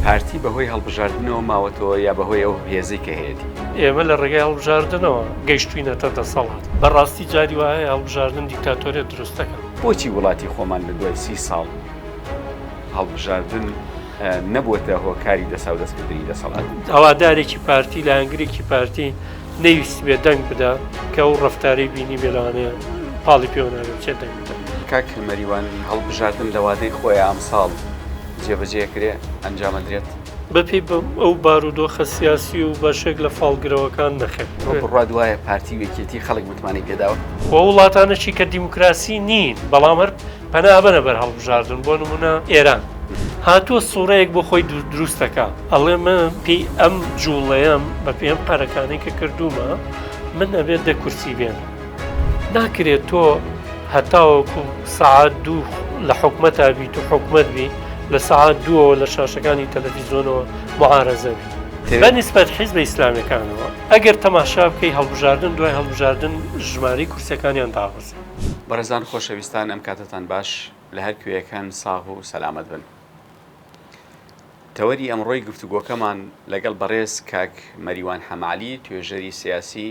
پارتی بەهۆی هەڵبژاردنەوە ماوەتەوە یا بەهۆی ئەو هێزەی کە هەیەتی؟ ئێمە لە ڕێگای هەڵبژاردنەوە گەیشتوینەتە دەسەڵات، بەڕاستی جاری وایە هەڵبژاردن دیکتاتۆریەت دروست دەکات. بۆچی وڵاتی خۆمان لە دوای سی ساڵ هەڵبژاردن نەبووەتە هۆکاری دەساودەستکردنی دەسەڵات؟ هەوادارێکی پارتی لایەنگرێکی پارتی نەیویستبێ دەنگ بدا کە ئەو ڕەفتارەی بینی بێ لەوانەیە پاڵی پێوە نابێت چێ دەنگ بدات. کاک مەریوان هەڵبژاردن لە وادەی خۆی ئەمساڵ، جێبەجێ کرێ ئەنجامەدرێت. بەپێی ئەو بارودۆخە سیاسی و بەشێک لە فاڵگرەوەکان نەخێر. تۆ بڕوات وایە پارتی و یەکێتی خەڵک متمانەی پێداوە؟ و وڵاتانەشی کە دیموکراسی نین بەڵام هەر پەنا ئەبەنە بەر هەڵبژاردن بۆ نموونە ئێران هاتووە سوڕەیەک بۆ خۆی دروست دەکا. ئەڵێ من پێی ئەم جووڵەیەم بەپێی ئەم قەرەکانەی کە کردوومە من ئەبێت دە کورسی بێنم. ناکرێت تۆ هەتاوەکو سەعات دوو لە حکومەتا بیت و حکومت بی لە سەعات دووەوە لە شاشەکانی تەلەڤیزیۆنەوە معارەزەوی بە نسبەت حیزبە ئیسلامەکانەوە ئەگەر تەماشا بکەی هەڵبژاردن دوای هەڵبژاردن ژماری کورسەکانیان دابەزی بەڕێزان خۆشەویستان ئەم کاتتان باش لە هەر کوێیەکان ساغ و سەلامەت بن. تەوەری ئەمڕۆی گفتوگۆکەمان لەگەڵ بەڕێز کاک مەریوان حەمالی توێژەری سیاسی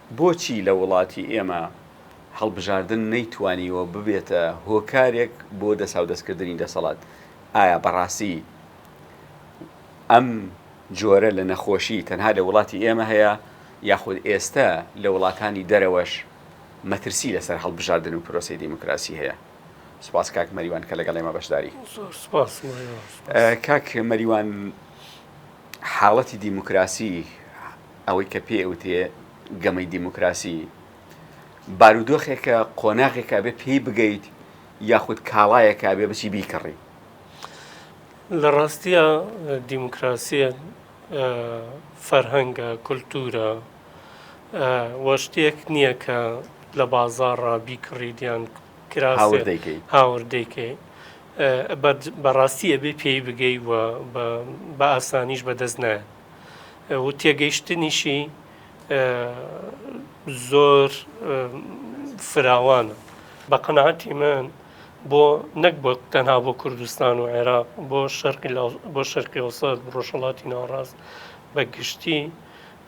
بۆچی لە وڵاتی ئێمە هەڵبژاردن نەیتوانیوە ببێتە هۆکارێک بۆ دەساودەستکردنی دەسەڵات؟ ئایا بەڕاستی ئەم جۆرە لە نەخۆشی تەنها لە وڵاتی ئێمە هەیە یاخود ئێستە لە وڵاتانی دەرەوەش مەترسی لەسەر هەڵبژاردن و پرۆسەی دیموکراسی هەیە؟ سوپاس کاک مەریوان کە لەگەڵ ئێمە بەشداری. زۆر سوپاس مەریوان. کاک مەریوان حاڵەتی دیموکراسی، ئەوەی کە پێی ئەوترێ گەمەی دیموکراسی، بارودۆخێکە، قۆناغێکە ئەبێ پێی بگەیت یاخود کاڵایەکە ئەبێ بچی بیکڕی؟ لە ڕاستیە دیموکراسیە فەرهەنگە، کولتوورە و شتێک نییە کە لە بازاڕا بیکڕیت یان هاورد دەیکەیت. هاورد دەیکەیت. بەڕاستی ئەبێ پێی بگەی و بە ئاسانیش بەدەست نایەت. و تێگەیشتنیشی زۆر فراوانە بە قەنەعەتی من بۆ نەک بۆ تەنها بۆ کوردستان و عێراق بۆ شەرقی بۆ شەرقی وسەد ڕۆژهڵاتی ناوڕاست بە گشتی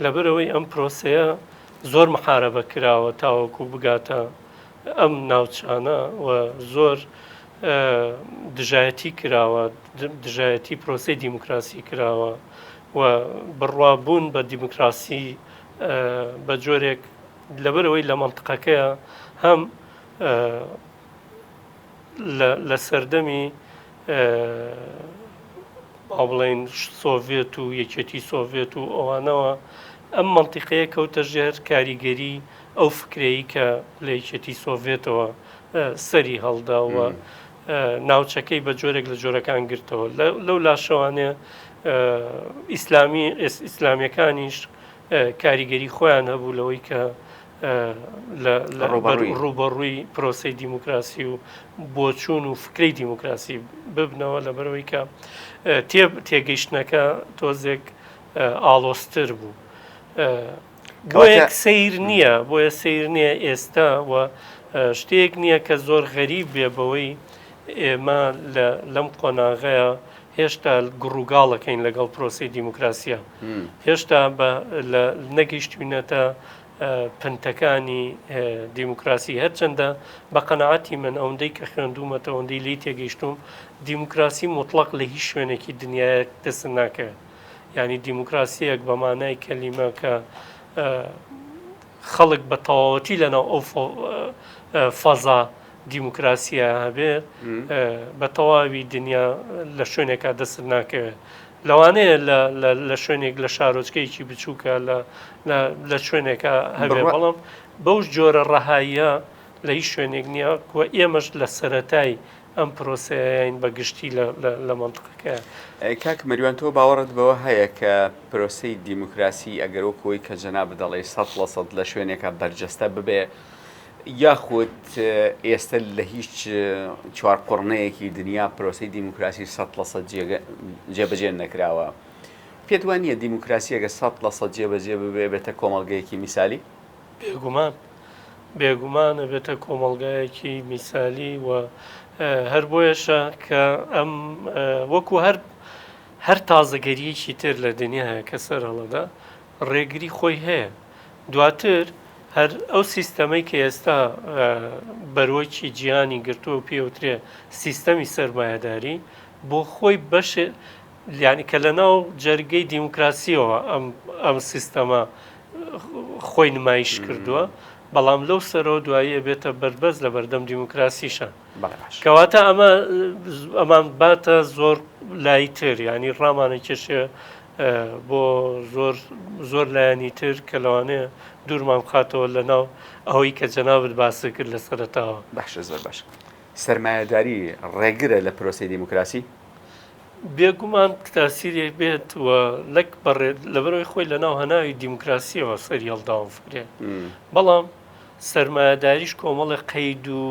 لەبەرەوەی ئەم پرۆسەیە زۆر محارەبە کراوە تاوەکو بگاتە ئەم ناوچانە و زۆر دژایەتی کراوە دژایەتی پرۆسی دیموکراسی کراوە و بڕوابوون بە دیموکراسی بە جۆرێک لەبەرەوەی لە منطقەکەیە هەم لە سەردەمی با بڵێن سۆڤێت و یەکێتی سۆڤێت و ئەوانەوە ئەم منطقەیە کەوتە ژێر کاریگەری ئەو فکرەی کە لە یەکێتی سۆڤێتەوە سەری هەڵدا و ناوچەکەی بە جۆرێک لە جۆرەکان گرتەوە لەو لاشەوانێ ئیسلامی ئیسلامیەکانیش کاریگەری خۆیان هەبوو لەوەی کە ڕوبەڕووی پرۆسی دیموکراسی و بۆچوون و فکری دیموکراسی ببنەوە لە بەرەوەی کە تێب تێگەیشتنەکە تۆزێک ئاڵۆستر بوو. کەواتە بۆیە سەیر نییە بۆیە سەیر نییە ئێستا و شتێک نییە کە زۆر غەریب بێ بەوەی ئێمە لەم قۆناغەیە هێشتا گڕوگاڵەکەین لەگەڵ پرۆسی دیموکراسیە هێشتا نەگەیشتوینەتە پنتەکانی دیموکراسی هەرچەندە بە قەنەعاتی من ئەوەندەی کە خوێندومەتەوەندەی لی تێگەیشتوم دیموکراسی مطلق لە هیچ شوێنێکی دنیاە دەست ناکەوێت یانی دیموکراسیەک بە مانای کەلیمە کە خەڵک بە تەواوەتی لەناو ئەو فەزا دیموکراسیە هەبێت بە تەواوی دنیا لە شوێنێکا دەست ناکەوێت لەوانەیە لە شوێنێک لە شارۆچکەیەکی بچووکە لە شوێنێکە هەبێ بەڵام بەو جۆرە ڕەهاییە لە هیچ شوێنێک نییە و ئێمەش لە سەتای ئەم پرۆسەیەین بە گشتی لە مەنتقەکە. کاک مەریوان تۆ باوەڕت بەوە هەیە کە پرۆسەی دیموکراسی ئەگەر وەکو ئەوەی کە جەنابت دەڵێی سەد لە سەد لە شوێنێکا بەرجەستە ببێ یاخود ئێستە لە هیچ چوار قوڕنەیەکی دنیا پرۆسەی دیموکراسی سەد لە سەد جێبەجێ نەکراوە پێت وانە دیموکراسیەگە سەد لە سەد جێبەجێ ببێ بێتە کۆمەڵگەیەکی میسالی؟ بێگومان، بێگومان ئەبێتە کۆمەڵگایەکی میسالی و هەر بۆیەشە کە ئەم وەکو هەر هەر تازەگەریەکی تر لە دنیا هەیە کە سەر هەڵەدا ڕێگری خۆی هەیە دواتر هەر ئەو سیستەمەی کە ئێستا بەرۆکی جیانی گرتووە و پێوترێ سیستەمی سرمایهداری بۆ خۆی بەش لیانی کە لە ناو جەرگەی دیموکراسیەوە ئەم ئەم سیستەمە خۆی نمایش کردووە بەڵام لەو سەرەوە دوایی ئەبێتە بەربەست لە بەردەم دیموکراسیشە کەواتە ئەمە ئەمان باتە زۆر لای تر ینی ڕامانە کێشێ بۆ زۆر زۆر لایەنی تر کە لەوانەیە دوورمان بخاتەوە لە ناو ئەوەی کە جەنابت باسی کرد لە سەرتاوە باشە زۆر باش سرمایهداری ڕێگرە لە پرۆسی دیموکراسی بێگومان تاسیرێک بێت و لەک بەڕێت لەبەرەوەی خۆی لە ناو هەناوی دیموکراسیەوە سەری هەڵداوم فکرێ بەڵام سرمایهداریش کۆمەڵی قەید و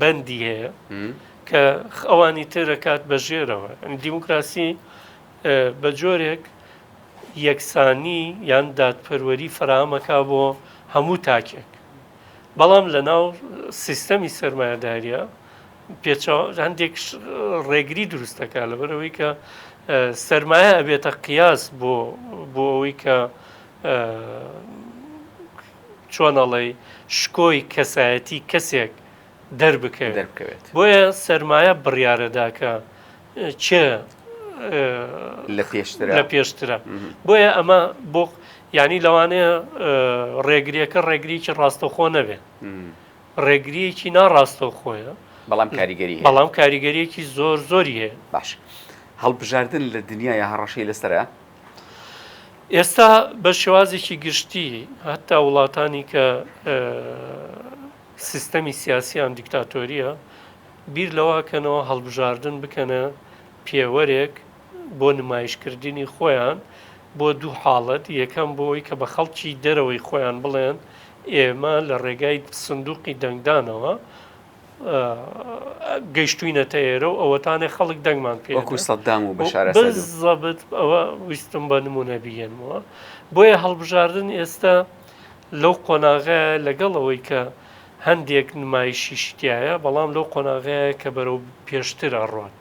بەندی هەیە کە ئەوانی ترەکات بە ژێرەوە دیموکراسی بە جۆرێک یەکسانی یان دادپەروەری فراهمەکە بۆ هەموو تاکێک بەڵام لە ناو سیستەمی سرمایهداریە پێچاو هەندێک ڕێگری دروست دەکات لەبەر ئەوەی کە سرمایە ئەبێتە قیاس بۆ بۆ ئەوەی کە چۆنەڵی شکۆی کەسایەتی کەسێک دەربکەوێت دەربکەوێت بۆیە سرمایە بڕیارەداکە چێ لە پێشتر لە پێشترە بۆیە ئەمە بۆ ینی لەوانەیە ڕێگریەکە ڕێگریکی ڕاستەخۆ نەبێت ڕێگریەکی ناڕاستەوخۆیە بەڵام کاریگەری بەڵام کاریگەریەکی زۆر زۆری هەیە باش هەڵبژاردن لە دنیای هەڕەشەی لەسرە ئێستا بە شێوازێکی گشتی هەتا وڵاتانی کە سیستەمی سیاسیان دیکتاتۆریە بیر لەواکەنەوە هەڵبژاردن بکەنە پێوەرێک بۆ نمایشکردنی خۆیان بۆ دوو حاڵەت، یەکەم بۆ ئەوەی کە بە خەڵکی دەرەوەی خۆیان بڵێن ئێمە لە ڕێگای سندوقی دەنگدانەوە گەیشتوینەتە ئێرە و ئەوەتانێ خەڵک دەنگمان پێ وەکو سەددام و بەشارە زەبت ئەوە ویستم بە نمونە بگەنمەوە بۆیە هەڵبژاردن ئێستا لەو قۆناغە لەگەڵ ئەوەی کە هەندێک نمایشی شتایە بەڵام لەو قۆناغەیە کە بەرەو پێشتر ئەڕۆن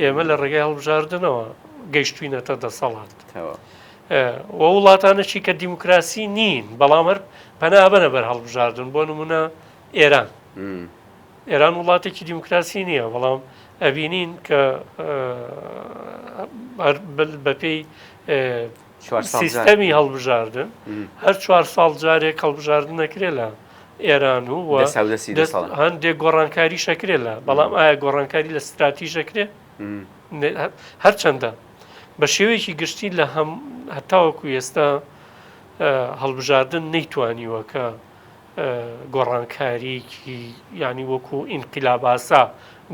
ئێمە لە ڕێگای هەڵبژاردنەوە گەیشتوینەتە دەسەڵات و وڵاتانەشی کە دیموکراسی نین بەڵام هەر پەنابەنە بەر هەڵبژاردن بۆ نمونە ئێران ئێران وڵاتێکی دیموکراسی نییە بەڵام ئەبینین کە بەپێی سیستەمی هەڵبژاردن هەر چوار ساڵ جارێک هەڵبژاردن نەکرێ لە ئێران و هەندێک گۆڕانکاری شەکرێ لە بەڵام ئایا گۆڕانکاری لە ستراتی شەکرێ هەرچەندە بە شێوەیەکی گشتی لە هەم هەتاوەکو ئێستا هەڵبژاردن نەیتوانیوە کە گۆڕانکاریکی ینی وەکو ئینقلاباسا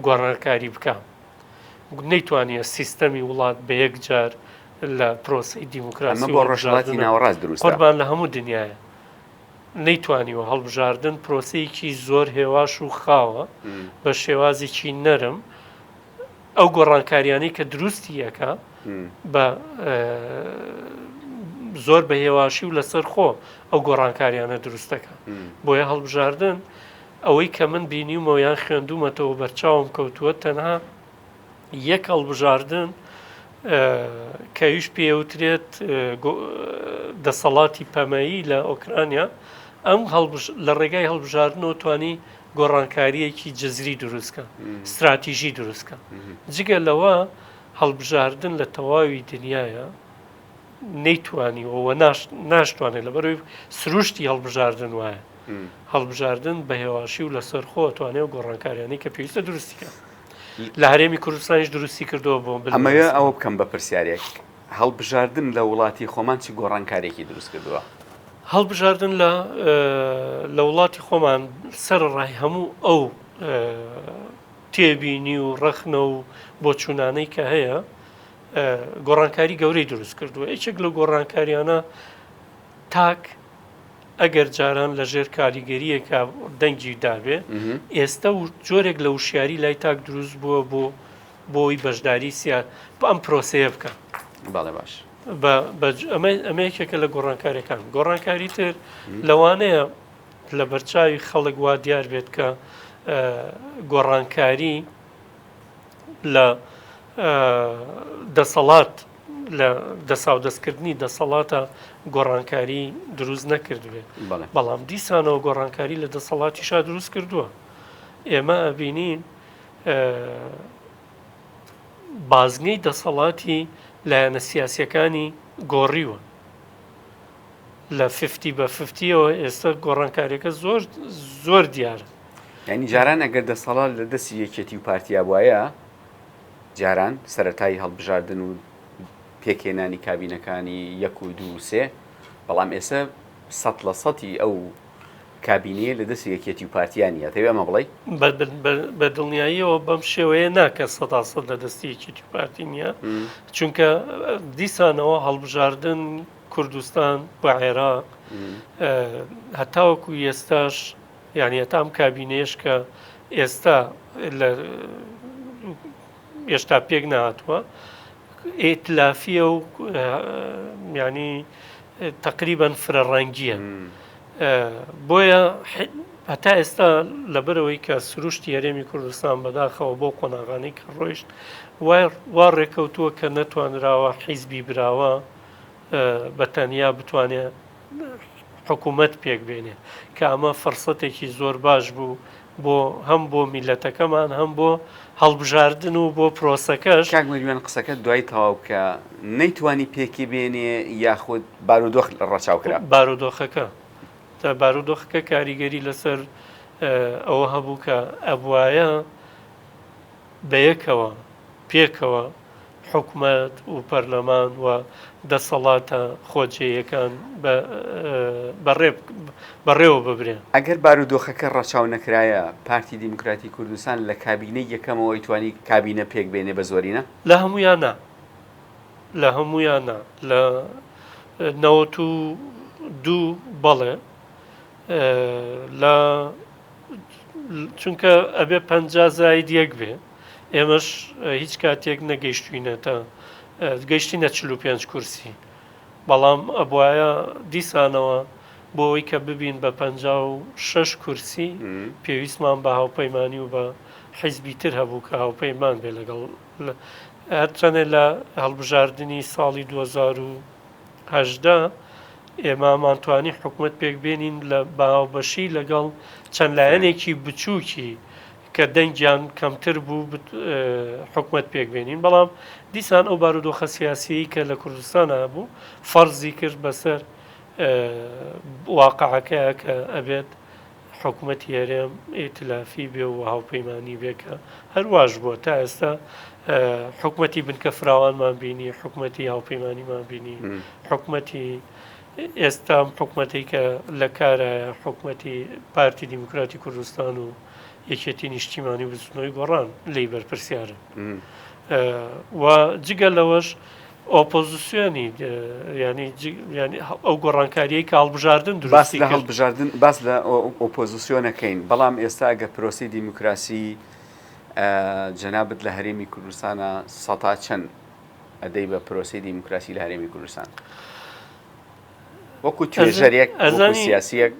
گۆڕانکاری بکە نەیتوانیە سیستەمی وڵات بە یەک جار لە پرۆسەی دیموکراسی ئەمە بۆ ڕۆژهەڵاتی ناوەڕاست دروستە قوربان لە هەموو دنیایە نەیتوانیوە هەڵبژاردن پرۆسەیەکی زۆر هێواش و خاوە بە شێوازێکی نەرم ئەو گۆڕانکاریانەی کە دروستی یەکە بە زۆر بە هێواشی و لەسەر خۆ ئەو گۆڕانکاریانە دروستەکە بۆیە هەڵبژاردن ئەوەی کە من بینیومەوە یان خوێندومەتەوە بەرچاوم کەوتووە تەنها یەک هەڵبژاردن کەویش پێوترێت دەسەڵاتی پەمەیی لە ئۆکرانیا ئەم لە ڕێگای هەڵبژاردنەوە توانی گۆڕانکاریەکی جززری دروستکە استراتیژی دروستکە جگە لەوە هەڵبژاردن لە تەواوی دنیاە نەیتوانیەوە ناشتوانێت لە بەروی سروشتی هەڵبژاردن وایە هەڵبژاردن بە هێواشی و لەسەر خۆ توانێت و گۆڕانکاریانی کە پێویستە دروستیکە لە هەرێمی کوردستانیش دروستی کردەوە بۆ ئەمەوێ ئەوە بکەم بە پرسیارێک هەڵبژاردن لە وڵاتی خۆمان چی گۆڕانکارێکی دروست کردووە هەڵبژاردن لە لە وڵاتی خۆمان سەر ڕای هەموو ئەو تێبینی و ڕەخنە و بۆچوونانەی کە هەیە گۆڕانکاری گەورەی دروست کردووە یەکێک لە گۆڕانکاریانە تاک ئەگەر جاران لە ژێر کاریگەرییەکا دەنگی دابێ، ئێستە و جۆرێک لە وشیاری لای تاک دروست بووە بۆ بۆی بەشداری سیا بە ئەم پرۆسەیە بکە. بەڵێ باش. ئەمە یەکێکە لە گۆڕانکاریەکان گۆڕانکاری تر لەوانەیە لە بەرچاوی خەڵک وا دیار بێت کە گۆڕانکاری لە دەسەڵات لە دەساودەستکردنی دەسەڵاتە گۆڕانکاری دروست نەکردوێت بەڵام دیسانەوە گۆڕانکاری لە دەسەڵاتی شا دروست کردووە ئێمە ئەبینین بازنەی دەسەڵاتی لایەنە سیاسەکانی گۆڕیوە لە ففتی بە ففتیەوە ئێستا گۆڕانکاریەکە زۆر زۆر دیارە ینی جاران ئەگەر دەسەڵات لە دەستی یەکێتی و پارتیا وایە جاران سەرەتای هەڵبژاردن و پێکهێنانی کابینەکانی یەک و دوو و سێ، بەڵام ئێسە سەد لە سەدی ئەو کابینەیە لە دەستی یەکێتی و پارتییە نییە، دەتەوێ ئەمە بڵێی؟ بە دڵنیاییەوە بەم شێوەیە نا کە سەدا سەد لە دەستی یەکێتی و پارتی نییە، چونکە دیسانەوە هەڵبژاردن کوردستان و عێراق هەتاوەکو ئێستاش، یانی هەتا ئەم کابینەیەش کە ئێستا لە ئێشتا پێک نهاتووە ئیتلافیە و ینی تقریبان فرە ڕەنگیە بۆیە هەتا ئێستا لەبەرەوەی کە سروشتی هەرێمی کوردستان بەداخەوە بۆ قۆناغانی کە ڕۆیشت وا ڕێکەوتووە کە نەتوانراوە حیزبی براوە بە تەنیا بتوانێ حکوومەت پێک بێنێ کە ئەمە فرسەتێکی زۆر باش بوو بۆ هەم بۆ میلەتەکەمان هەم بۆ هەڵبژاردن و بۆ پرۆسەکەش کاک مریوان قسەکە دوای تەواو کە نەیتوانی پێکی بێنێ یاخود بارودۆخ ڕەچاو کرا بارودۆخەکە تا بارودۆخەکە کاریگەری لەسەر ئەوە هەبوو کە ئەبواە بەیەکەوە، پێکەوە، حکومەت و پەرلەمان و دەسەڵاتە خۆجێیەکان بەڕێوە ببرێن. ئەگەر بارودۆخەکە ڕەچاو نەکرایە، پارتی دیموکراتی کوردستان لە کابینەی یەکەمەوە ئەیتوانی کابینە پێک بێنێ بە زۆرینە؟ لە هەموویان نا. لە هەموویان نا. لە نەوەت و دوو بەڵێ. لە. چونکە ئەبێ پ زاید یەک بێ ئێمەش هیچ کاتێک نەگەیشتوینەتە گەیشتینە چ پێ کورسی بەڵام ئەبواە دیسانەوە بۆ ئەوی کە ببین بە پ شش کورسی پێویستمان بە هاوپەیمانانی و بە حیزبی تر هەبوو کە هاوپەیمان بێ لەگەڵ هەرچەنێ لە هەڵبژاردننی ساڵی 2000 هەژدە، ئێمامان توانی حکومەت پێک بێنین لە باوبەشی لەگەڵ چەند لایەنێکی بچووکی کە دەنگیان کەمتر بوو حکومەت پێک بێنین بەڵام دیسان ئەو بارودۆخە سیاسیی کە لە کوردستان هەبوو فەرزی کرد بەسەر واقعەکەیە کە ئەبێت حکومەتی هەرێم ئیتلافی بێ و هاوپەیمانی بێ کە هەرواش بووە تا ئێستا حکومەتی بنکە فراوانمان بینی حکومەتی هاوپەیمانیمان بینی حکومەتی ئێستام حکومەتی کە لە کارە حکومەتی پارتی دیموکراتی کوردستان و یەکێتی نیشتیمانی بزنەوەی گۆڕان لی بەرپرسیارن و جگە لەوەش ئۆپۆزیسیۆنی ینی ینی ئەو گۆڕانکاریی کە هەڵبژاردن دروستی لە هەڵبژاردن باس لە ئۆپۆزیسیۆنەکەین بەڵام ئێستا ئەگەر پرۆسی دیموکراسی جەنابەت لە هەرێمی کوردستانە سەتا چەند ئەدەی بە پرۆسی دیموکراسی لە هەرێمی کوردستان وەکو توێژەرێک سیاسیەک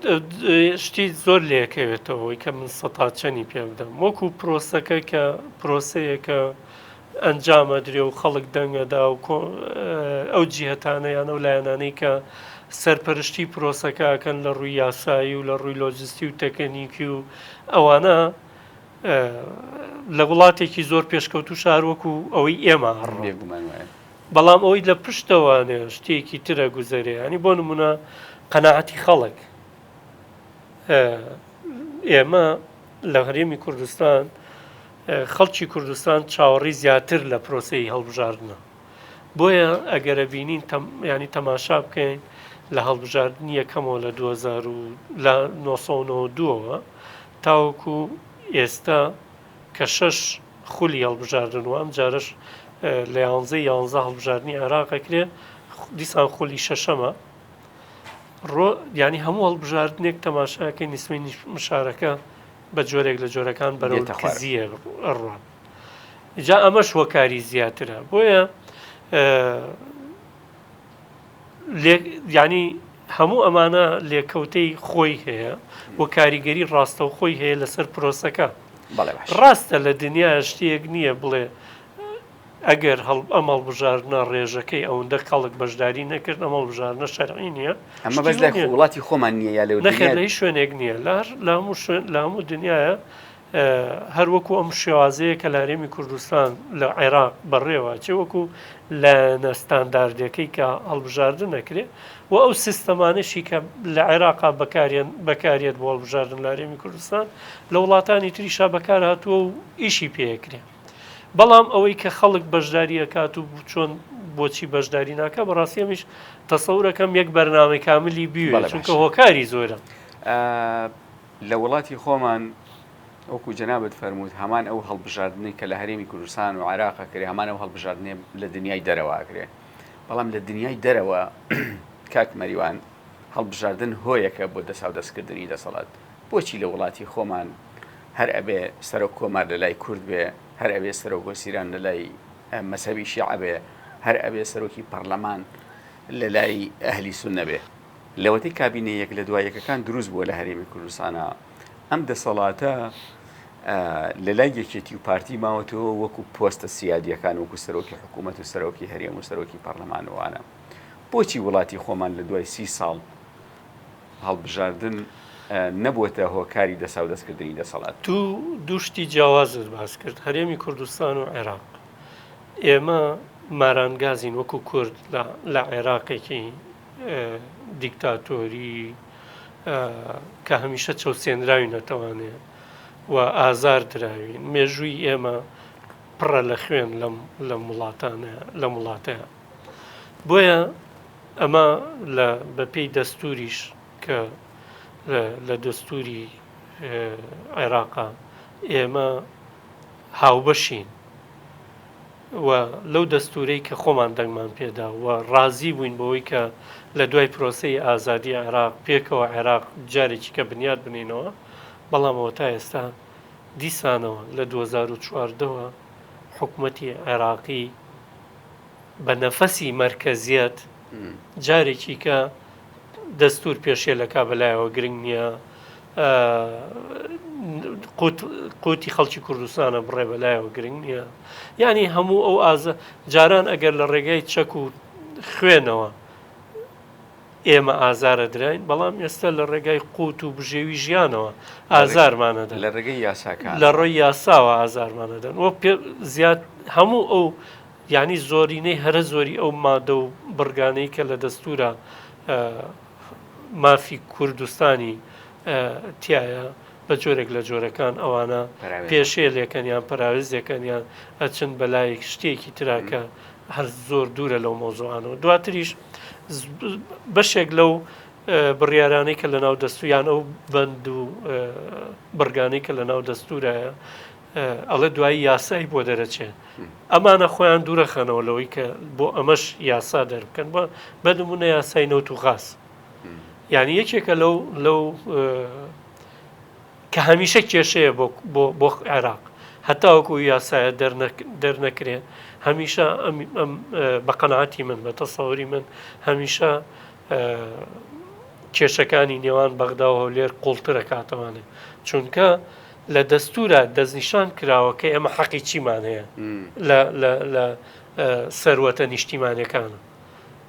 شتی زۆر لەکەوێتەوەی کە من سەتا چەنی پێ بدەم وەکو پرۆسەکە کە پرۆسەیەکە ئەنجام ئەدرێ و خەڵک دەنگ ئەدا و ئەو جیهەتانە یان ئەو لایەنانەی کە سەرپەرشتی پرۆسەکە ئەکەن لە ڕووی یاسایی و لە ڕووی لۆجستی و تەکنیکی و ئەوانە لە وڵاتێکی زۆر پێشکەوتو شارۆکو ئەوەی ئێمە بەڵام ئەوەی لە پشتەوانێ شتێکی ترە گوزەرێ ینی بۆ نمونە قەنەعەتی خەڵک ئێمە لە هەرێمی کوردستان خەڵکی کوردستان چاوەڕی زیاتر لە پرۆسەی هەڵبژاردنە بۆیە ئەگەرە بینین ینی تەماشا بکەین لە هەڵبژاردننی یەکەمەوە لە 1992ەوە تاوەکو ئێستا کە شەش خولی هەڵبژاردن و ئەم جارش لە یانزە یانزە هەڵبژاردننی عێراقەکرێ دیسان خولی شەشەمە ڕۆ ینی هەموو هەڵبژاردنێک تەماشاکەی نیسمەی مشارەکە بە جۆرێک لە جۆرەکان بەرەو تەخوازیە ڕوان جا ئەمەش هۆکاری زیاترە بۆیە ینی هەموو ئەمانە لێکەوتەی خۆی هەیە و کاریگەری ڕاستە و خۆی هەیە لەسەر پرۆسەکە ڕاستە لە دنیا شتێک نییە بڵێ ئەگەر ئەم هەڵبژاردنە ڕێژەکەی ئەوەندە کەڵک بەشداری نەکرد ئەم هەڵبژاردنە شەرعی نییە ئەمە بەش لای وڵاتی خۆمان نییە یا لەو نەخێر لە شوێنێک نییە لار لە هەموو شوێن لە هەموو دنیاە هەروەکو ئەم شێوازەیە کە لارێمی کوردستان لە عێراق بەڕێوە چێ وەکو لە نەستانداردەکەی کە هەڵبژاردن نەکرێ و ئەو سیستەمانەشی کە لە عێراقا بەکارێن بەکارێت بۆ هەڵبژاردن لارێمی کوردستان لە وڵاتانی تریشا بەکار هاتووە و ئیشی پێکرێ بەڵام ئەوەی کە خەڵک بەشداری ئەکات و چۆن بۆچی بەشداری ناکە بەڕاستی ئەمیش تەسەورەکەم یەک بەرنامەی کاملی بیوێت چونکە هۆکاری زۆرە لە وڵاتی خۆمان وەکو جەنابەت فەرمووت هەمان ئەو هەڵبژاردنەی کە لە هەرێمی کوردستان و عراقە کرێ هەمان ئەو هەڵبژاردنێ لە دنیای دەرەوە کرێ بەڵام لە دنیای دەرەوە کاک مەریوان هەڵبژاردن هۆیەکە بۆ دەساو دەستکردنی دەسەڵات بۆچی لە وڵاتی خۆمان هەر ئەبێ سەرۆک کۆمار لە لای کورد بێ، هەر ئەبێ سەرۆک وەزیران لە لای مەزهەبی شیعە بێ، هەر ئەبێ سەرۆکی پەڕلەمان لە لای ئەهلی سوننە بێ؟ لەوەتەی کابینە یەک لە دوا یەکەکان دروست بووە لە هەرێمی کوردستانا، ئەم دەسەڵاتە لە لای یەکێتی و پارتی ماوەتەوە وەکوو پۆستە سیادییەکان وەکوو سەرۆکی حکوومەت و سەرۆکی هەرێم و سەرۆکی پەڕلەمان و وانە. بۆچی وڵاتی خۆمان لە دوای سی ساڵ، هەڵبژاردن نەبووەتە هۆکاری دەساودەستکردنی دەسەڵات. دوو دوو شتی جیاوازت باس کرد، هەرێمی کوردستان و عێراق. ئێمە مارانگازین وەکو کورد لە عێراقێکی دیکتاتۆری کە هەمیشە چەوسێنراوی نەتەوانێ و ئازار دراوین مێژووی ئێمە پڕە لە خوێن لەم وڵاتانە لەم وڵاتەیە. بۆیە ئەمە لە بەپێی دەستوریش کە لە دەستوری عێراقا ئێمە هاوبەشین و لەو دەستورەی کە خۆمان دەنگمان پێدا و ڕازی بووین بەوەی کە لە دوای پرۆسی ئازادی عێراق پێکەوە عێراق جارێکی کە بنیاد بنینەوە بەڵامەوە تا ئێستا دیسانەوە لە 2014ەوە حکوومەتی عێراقی بە نەفەسی مەرکەزیەت جارێکیکە دەستور پێشێلەکە بەلایەوە گرنگ نییە قوتی خەڵکی کوردستانە بڕێ بەلایەوە گرنگ نییە یعنی هەموو ئەو ئازە جاران ئەگەر لە ڕێگای چەک و خوێنەوە ئێمە ئازارەدراین، بەڵام ئێستا لە ڕێگای قووت و بژێوی ژیانەوە ئازارمانەدەن، لە ڕێگەی یاساکان، لە ڕێی یاساوە ئازارمانەدەن و پێ زیاد هەموو ئەو یعنی زۆرینەی هەرە زۆری ئەو مادە و بڕگانەی کە لە دەستورە مافی کوردستانی تایە بە جۆرێک لە جۆرەکان ئەوانە پێشێلێکەن یان پەراوێزێکەن یان ئەچن بەلایەک شتێکی تراکە هەر زۆر دوورە لەو مەوزوعانەوە دواتریش بەشێک لەو بڕیارانەی کە لە ناو دەستویان ئەو بەند و بڕگانەی کە لە ناو دەستورایە ئەڵێ دوایی یاسایی بۆ دەرەچێت ئەمانە خۆیان دوورەخەنەوە لەوەی کە بۆ ئەمەش یاسا دەربکەن بە بەدمونە یاسای نەوت و غاز یعنی یەکێکە لەو لەو کە هەمیشە کێشەیە بۆ عێراق هەتاوەکو ئەو یاسایە دەرنەکرێت هەمیشە بە قەنەعاتی من بە تەسەوری من هەمیشە کێشەکانی نێوان بەغدا و هەولێر قوڵترە کاتەوانێ چونکە لە دەستورە دەستنیشان کراوە کە ئێمە حەقی چیمان هەیە لە سەروەتە نیشتیمانەکانە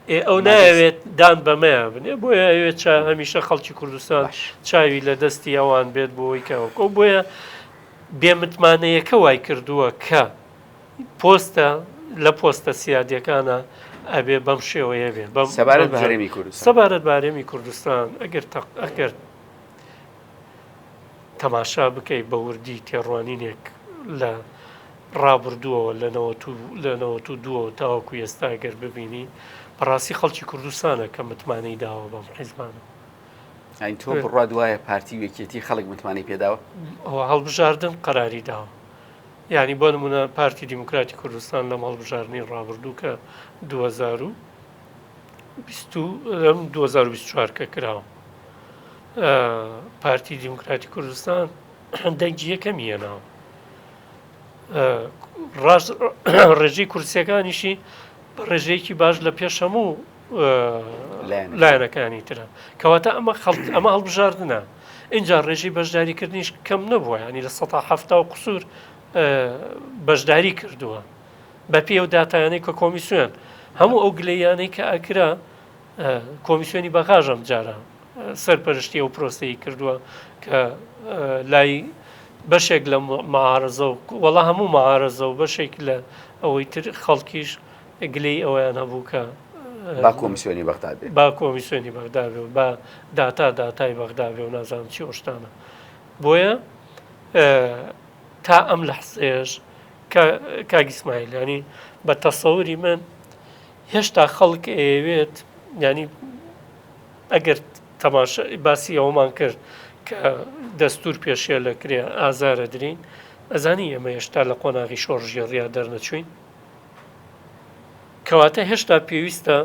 ئێ ئەو نایەوێت دان بەمەیان بنێ بۆیە ئەوێت چا هەمیشە خەڵکی کوردستان چاوی لە دەستی ئەوان بێت بۆی کەوەکۆ بۆیە بێمتمانەیەکە وای کردووە کە پۆستە لە پۆستە سیادەکانە ئەبێ بەم شێوەیە بێ بەم سەبارەت بەهرێمی کورد سەبارەت بارێمی کوردستان ئەگەر ئەگەر تەماشا بکەی بە وردی تێڕوانینێک لە ڕابردووەوە لە نەوەت و لە نەوەت و دووەوە تاوەکو ئێستا گەر ببینی بەڕاستی خەڵکی کوردستانە کە متمانەی داوە بەم حیزبانە ئەین تۆ بڕوا دوایە پارتی و یەکێتی خەڵک متمانەی پێداوە ئەوە هەڵبژاردن قەراری داوە یعنی بۆ نمونە پارتی دیموکراتی کوردستان لەم هەڵبژاردنی ڕابردوو کە 2000 لەم دوو هەزار و بیست و چوار کە کراوە پارتی دیموکراتی کوردستان دەنگی یەکەمی هێناوە ڕاست ڕێژەی کورسیەکانیشی بە ڕێژەیەکی باش لە پێش هەموو لایەنەکانی ترە کەواتە ئەمە خەڵک ئەمە هەڵبژاردنە اینجا ڕێژی بەشداریکردنیش کەم نەبووە ینی لە سە هەفتا و قسوور بەشداری کردووە بەپێی ئەو داتایانەی کە کۆمیسیۆن هەموو ئەو گلەیانەی کە ئەکرا کۆمیسیۆنی بەغاژ ئەم جارە سەرپەرشتی ئەو پرۆسەی کردووە کە لای بەشێک لە معارزە و وەڵا هەموو معارزە و بەشێک لە ئەوەی تر خەڵکیش گلەی ئەویان هەبوو کە با کۆمیسیۆنی بەغدا بێ با کۆمیسیۆنی بەغدا بێ و با داتا داتای بەغدا بێ و نازانم چی ئۆشتانە بۆیە تا ئەم لە حسێش کاک ئیسماعیل یانی بە تەسەوری من هێشتا خەڵک ئەیەوێت ینی ئەگەر تەماش باسی ئەومان کرد کە دەستور پێشێ لە کرێ ئازارە درین ئەزانی ئێمە هێشتا لە قۆناغی شۆڕژێڕیا دەرنەچوین کەواتە هێشتا پێویستە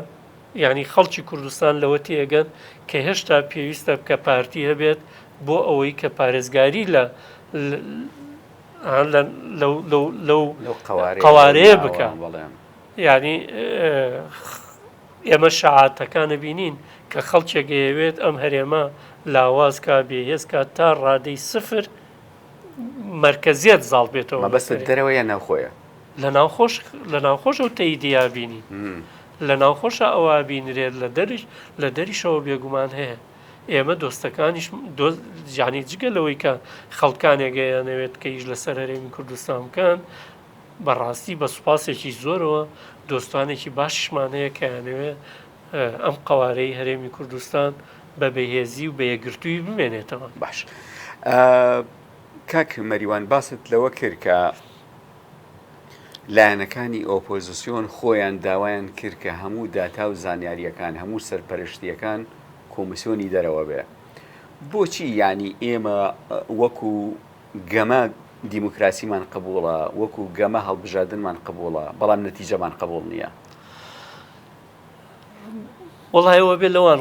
ینی خەڵکی کوردستان لەوە تێگەن کە هێشتا پێویستە بکە پارتی هەبێت بۆ ئەوەی کە پارێزگاری لە لەو قوارەیە بکە ینی ئێمە شعاتەکانە بینین کە خەڵکێک ئەیەوێت ئەم هەرێمە لاوازکە بێهێزکە تا ڕادەی سفر مرکزیت زاڵ بێتەوە بەس دەرەوەیە ناوخۆیە لە ناوخۆش لە ناوخۆش و تەیدیا بینی لە ناوخۆشە ئەوە بینرێت لە دەریش لە دەریشەوە بێگومان هەیە ئێمە دۆستەکانیش جانی جگە لەوەی کە خەڵکانێگەیانەوێت کە یش لەسەر هەرێمی کوردستان بکەن بەڕاستی بە سوپاسێکی زۆرەوە دۆستانێکی باششمان هەیە کەیانەوێ ئەم قوارەی هەرێمی کوردستان بە بەهێزی و بەیەگرتووی بمێنێتەوە باش کاک مەریوان باست لەوە کرد کە لایەنەکانی ئۆپۆزسیۆن خۆیان داوایان کرد کە هەموو داتا و زانیارییەکان هەموو سەرپەرشتییەکان کۆمیسیۆنی دەرەوە بێ بۆچی یانی ئێمە وەکو گەمە دیموکراسیمان قبوڵە وەکو گەمە هەڵبژاردنمان قبوڵە بەڵام نەتیجەمان قبوڵ نییە. وەڵایەوە بێ لەوان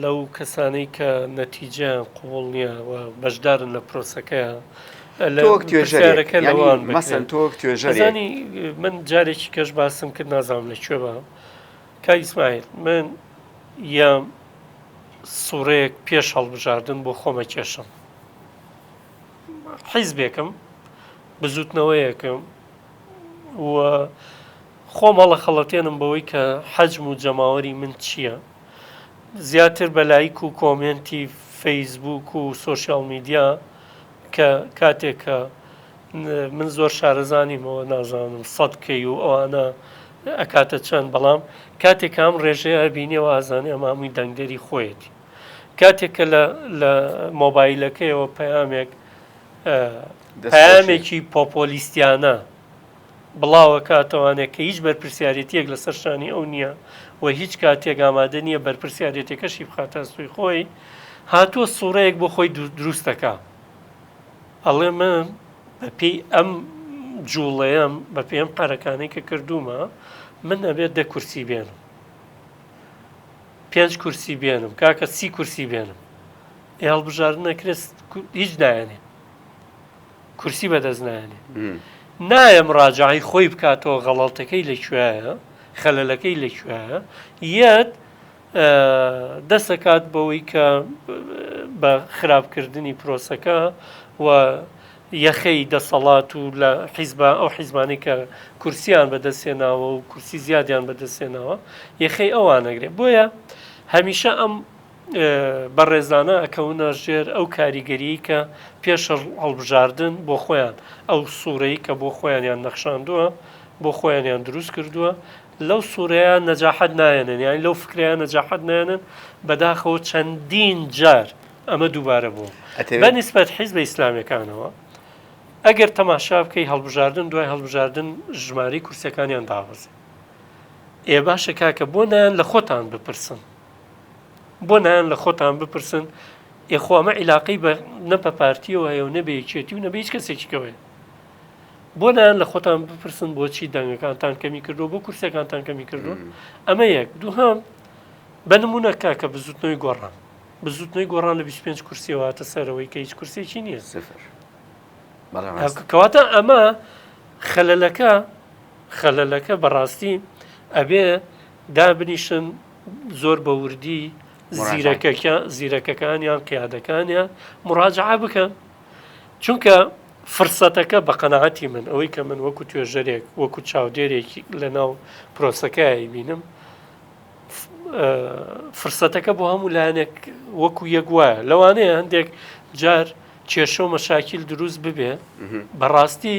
لەو کەسانەی کە نەتیجە قوڵ نییە و بەشدارن لە پرۆسەکەیان لەوەک توێژەرەکە لەوان مەسەن تۆک توێژەرانی من جارێکی کەش باسم کرد نازانم لە کوێ بە کا ئیسماعیل من یام سوڕەیەک پێش هەڵبژاردن بۆ خۆمە کێشم حیزبێکم بزوتنەوەیەکم و خۆم هەڵەخەڵەتێنم بەوەی کە حەجم و جەماوەری من چییە. زیاتر بە لایک و کۆمێنتی فەیسبووک و سۆشیاڵ میدیا کە کاتێک کە من زۆر شارەزا نیمەوە نازانم سەد کەی و ئەوانە ئەکاتە چەند بەڵام کاتێک کە ئەم ڕێژەیە ئەبینیەوە ئازانێ ئەمە هەمووی دەنگدەری خۆیەتی. کاتێک کە لە مۆبایلەکەیەوە پەیامێک پەیامێکی پۆپۆلیستیانە. بڵاوەکە ئەتوانێت کە هیچ بەرپرسیارێتییەک لەسەر شانی ئەو نییە و هیچ کاتێک ئامادە نییە بەرپرسیارێتەکەشی بخاتە ئەستۆی خۆی، هاتووە سووڕەیەک بۆ خۆی دروست دەکا. ئەڵێ من بەپێی ئەم جووڵەیەم، بەپێی ئەم قەرەکانەی کە کردوومە، من ئەبێت دە کورسی بێنم. پێنج کورسی بێنم، کاکە سی کورسی بێنم. ئێ هەڵبژاردن ئەکرێت هیچ نایەنێ. کورسی بەدەست نایەنێ نایە مراجعی خۆی بکاتەوە غەڵەتەکەی لە کوێیە خەلەلەکەی لە کوێیە یەت دەسەکات بەوەی کە بە خراپکردنی پرۆسەکە و یەخەی دەسەڵات و لە حیزبە ئەو حیزمانی کە کورسیان بەدەستێناوە و کورسی زیادیان بەدەستێنەوە یەخەی ئەوانەگرێت بۆیە هەمیشە ئەم بەڕێزانە ئەکەونە ژێر ئەو کاریگەریی کە پێش هەڵبژاردن بۆ خۆیان ئەو سوورەی کە بۆ خۆیانیان نەخشاندووە بۆ خۆیانیان دروست کردووە لەو سوورەیە نەجاحەت نایەنن یانی لەو فکریان نەجاحەت نێنن بەداخەوە چەندین جار ئەمە دووبارە بوو بە نسبەت حیز بە ئیسلامەکانەوە ئەگەر تەماشا بکەی هەڵبژاردن دوای هەڵبژاردن ژماری کورسەکانیان دابەزێ ئێ باشە کاکە بۆ نان لە خۆتان بپرسن بۆ نایەن لە خۆتان بپرسن ئێ خۆ ئەمە عیلاقەی بە نە بە پارتیەوە هەیە و نە بە یەکێتی و نە بە هیچ کەسێکیکەوە هەیە بۆ نایەن لە خۆتان بپرسن بۆچی دەنگەکانتان کەمی کردو بۆ کورسەکانتان کەمی کردو ئەمە یەک دووهام بە نمونە کاکە بزوتنەوەی گۆڕان بزوتنەوەی گۆڕان لە 25 کورسیەوە هاتە سەرەوەی کە هیچ کورسێکی نییە سفر کەواتە ئەمە خەلەلەکە خەلەلەکە بەڕاستی ئەبێ دابنیشن زۆر بە وردی زیرەکەکە زیرەکەکانیان قیادەکانیان مراجعە بکەن چونکە فرسەتەکە بە قەنەعەتی من ئەوەی کە من وەکو توێژەرێک وەکو چاودێرێکی لە ناو پرۆسەکەی بینم فرسەتەکە بۆ هەموو لایەنێک وەکو یەک وایە لەوانەیە هەندێک جار کێشە و مەشاکیل دروست ببێ بەڕاستی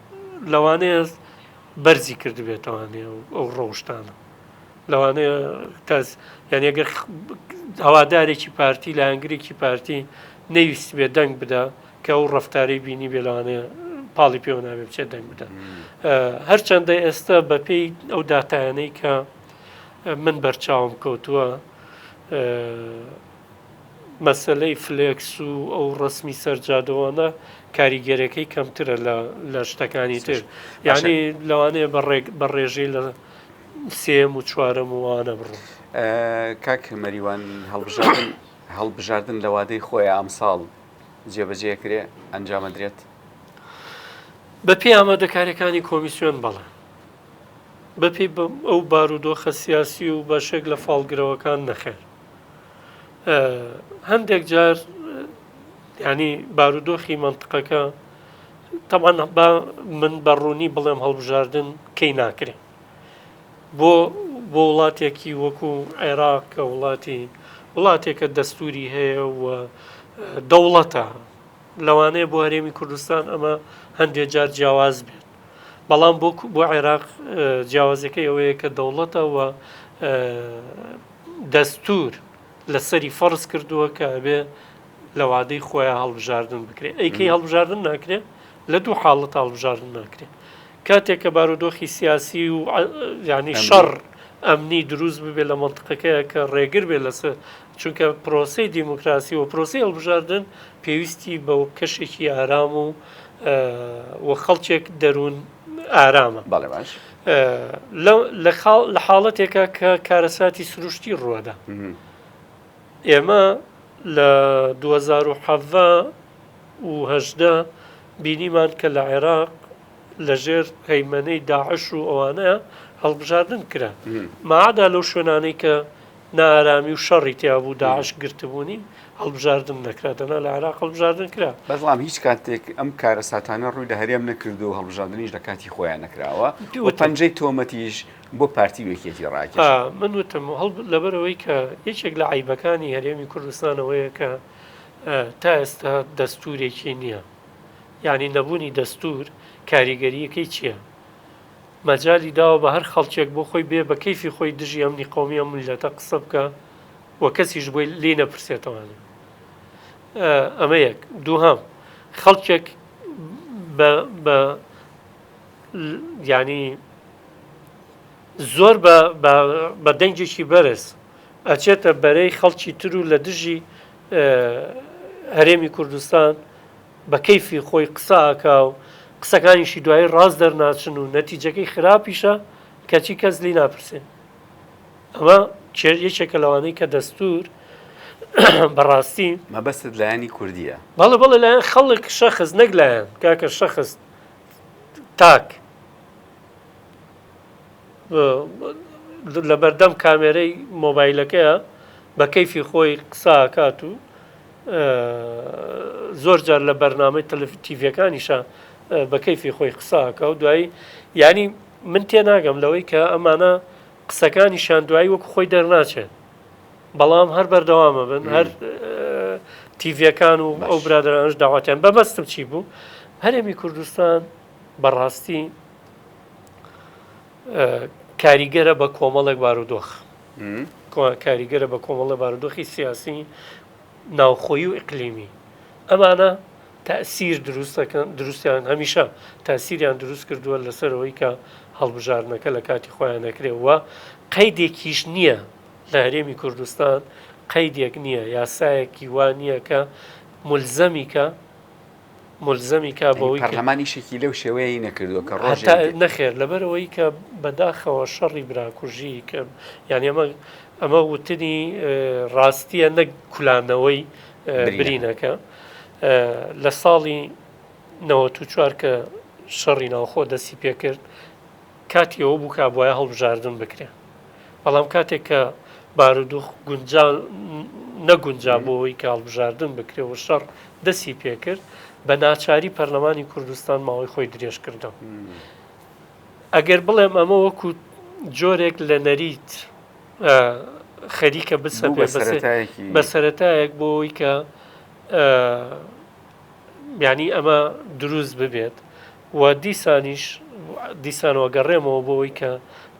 لەوانەیە بەرزی کردبێتەوانێ ئەو ڕەوشتانە لەوانەیە کەس یانەگە هەوادارێکی پارتی لە هەنگرێکی پارتی نەویست بێ دەنگ بدا کە ئەو ڕفتاری بینی بێلانەیە پاڵی پێوە ناوێ بچێت دەنگ بدا هەرچەندە ئێستا بەپێی ئەو دااتانەی کە من بەرچاوم کەوتووە مەسەلەی فلێکس و ئەو ڕەسمی سەر جادەوانە کاریگەرێکەی کەمترە لە شتەکانی تر یعنی لەوانەیە بە ڕێژەی لە سێم و چوارەم وانە بڕۆ کاک مەریوان هەڵبژاردن هەڵبژاردن لە وادەی خۆی ئەمساڵ جێبەجێ کرێ ئەنجامەدرێت بە پێ ئامادەکارەکانی کۆمیسیۆن بەڵێ بەپی ئەو بارودۆخە سیاسی و بەشێک لە فاڵگرەوەکان نەخێر هەندێک جار ینی بارودۆخی منطقەکە تەمان با من بە ڕوونی بڵێم هەڵبژاردن کەی ناکرێ بۆ بۆ وڵاتێکی وەکو عێراق کە وڵاتی وڵاتێکە دەستوری هەیە و دەوڵەتە لەوانەیە بۆ هەرێمی کوردستان ئەمە هەندێک جار جیاواز بێت بەڵام بۆ بۆ عێراق جیاوازەکەی ئەوەیە کە دەوڵەتە و دەستور لەسەری فەرز کردووە کە ئەبێ لە وادەی خۆیان هەڵبژاردن بکرێت ئەیکەی هەڵبژاردن ناکرێت لە دوو حاڵەت هەڵبژاردن ناکرێت کاتێک کە بارودۆخی سیاسی و ینی شەڕ ئەمنی دروست ببێت لە منطقەکەیە کە ڕێگر بێت لەسەر چونکە پرۆسەی دیموکراسی و پرۆسی هەڵبژاردن پێویستی بە کەشێکی ئارام و و خەڵکێک دەروون ئارامە لە حاڵەتێکە کە کارەساتی سروشتی ڕووەدا ئێمە لە 2010 وهدە بینیمان کە لە عێراق لەژێر هەیمەنەی داعش و ئەوانە هەڵبژاردن کرا مادا لەو شوێنانەی کە نائارامی و شەڕی تیابوو داعش گرتبوونی هەڵبژاردن نەکرا دەنا لە عێراق هەڵبژاردن کرا بەڵام هیچ کاتێک ئەم کارە ساتانە ڕووی لە هەرێم نەکردو و هەڵبژاردنیش لە کاتی خۆیان نەکراوە پەنجەی تۆمەتیش بۆ پارتی وەکێتی ڕاکە من وتم هەڵ لەبەرەوەی کە یەکێک لە عیبەکانی هەرێمی کوردستانەوەیە کە تا ئێستا دەستورێکی نییە یعنی نەبوونی دەستور کاریگەریەکەی چییە؟ مەجالی داوە بە هەر خەڵکێک بۆ خۆی بێ بە کەیفی خۆی دژی ئەمنی قەومی ئەم میللەتە قسە بکا و کەسیش بۆی لێی نەپرسێتەوانێ. ئەمە یەک. دووهەم، خەڵکێک بە یانی زۆر بە دەنگێکی بەرز ئەچێتە بەرەی خەڵکی تر و لە دژی هەرێمی کوردستان، بە کەیفی خۆی قسە ئەکا و قسەکانیشی دوایی ڕاست دەرناچن و نەتیجەکەی خراپیشە کەچی کەس لێی ناپرسێ ئەمە کێ یەکێکە لەوانەی کە دەستور بەڕاستی مەبەستت لایەنی کوردیە؟ بەڵێ بەڵێ لایەن خەڵک شەخص نەک لایەن کاکە شەخص تاک لەبەردەم کامێرەی مۆبایلەکەیە بە کەیفی خۆی قسە ئەکات و زۆر جار لە بەرنامەی تەلەفیتیڤەکانیشە بە کەیفی خۆی قساکە و دوایی ینی من تێناگەم لەوەی کە ئەمانە قسەکانی شان دوایی وەکو خۆی دەرناچێت بەڵام هەر بەردەوامە بن هەر تیڤەکان و ئەو برادرانش داواتیان بەبستم چی بوو هەرێمی کوردستان بەڕاستی کاریگەرە بە کۆمەڵێک بارودۆخ کاریگەرە بە کۆمەڵە بارودۆخی سیاسی ناوخۆی و ئیقلیمی ئەمانە تاسیر دروستەکەن دروستیان هەمیشە تاسیریان دروست کردووە لەسەرەوەی کە هەڵبژاردنەکە لە کاتی خۆیان نەکرێەوە قەیدێکیش نییە لە هەرێمی کوردستان قەیدێک نییە یاسایەکی وا نییە کە ملزەمیکە ملزەمی کا بەوەی کە پەرلەمان ئیشێکی لەو شێوەیەی نەکردووە کە ڕۆژێک هەتا نەخێر لەبەرەوەی کە بەداخەوە شەڕی براکوژی کە یعنی ئەمە ئەمە وتنی اه، ڕاستیە نەک کولانەوەی اه، برینەکە. برینەکە اه، لە ساڵی 94 کە شەڕی ناوخۆ دەستی پێکرد کاتی ئەوە بوو کە بوایە هەڵبژاردن بکرێ بەڵام کاتێک کە بارودوخ گونجا نەگونجا بۆ ئەوەی کە هەڵبژاردن بکرێ و شەڕ دەسی پێکرد بە ناچاری پەرلەمانی کوردستان ماوەی خۆی درێژ کردەوە ئەگەر بڵێم ئەمە وەکو جۆرێک لە نەریت خەریکە بسە بە سەتایەک بۆی کە ینی ئەمە دروست ببێت و دیسانیش دیسان وەگەڕێمەوە بۆوەی کە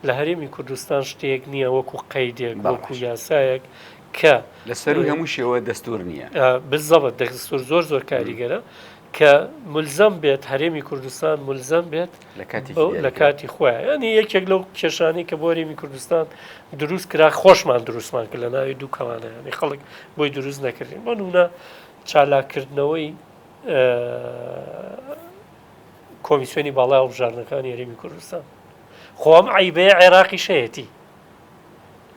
لە هەرێمی کوردستان شتێک نییە وەکو قەیدێک وەکو یاسایەک کە لە سەروی هەموو شێوە دەستور نییە بزەبت دەستور زۆر زۆر کاریگەرە کە ملزەم بێت هەرێمی کوردستان ملزەم بێت لە کاتی خۆیان ینی یەکێک لەو کێشانی کە بۆ هەرێمی کوردستان دروست کرا خۆشمان دروستمان کرد لە ناوی دوو کەوانەیانی خەڵک بۆی دروست نەکردین بۆ نونە چالاکردنەوەی کۆمیسیۆنی باڵای هەڵبژاردنەکانی هەرێمی کوردستان خۆم عیبەیە عێراقی شەیەتی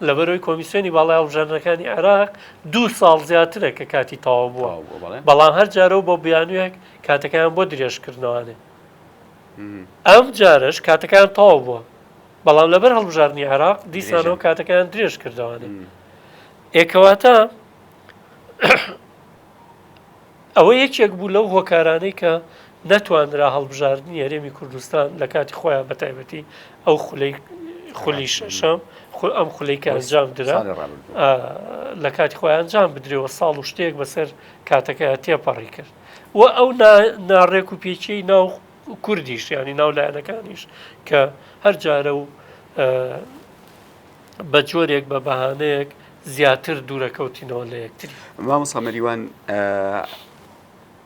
لەبەرەوەی کۆمیسیۆنی باڵای هەڵبژاردنەکانی عێراق دوو ساڵ زیاترە کە کاتی تەواو بووە بەڵام هەر جارەوە بۆ بیانوێک کاتەکەیان بۆ درێژکردنەوانێ ئەم جارش کاتەکان تەواو بووە بەڵام لەبەر هەڵبژاردننی عراق دیسانەوە کاتەکان درێژ کردوانێ ئێکەواتە ئەوە یەکێک بوو لەو هۆکارانەی کە نەتوانرا هەڵبژاردنی هەرێمی کوردستان لە کاتی خۆیان بە تایبەتی ئەو خولەی خولی شەشەم ئەم خولەی کە ئەنجام درا لە کاتی خۆیان ئەنجام بدرێەوە ساڵ و شتێک بەسەر کاتەکە تێپەڕی کرد و ئەو ناڕێک و پێچی ناو کوردیش ینی ناو لایەنەکانیش کە هەر جارە و بە جۆرێک بە بەهانەیەک زیاتر دوورەکەوتینەوە لە یەکتری مامۆسا مەریوان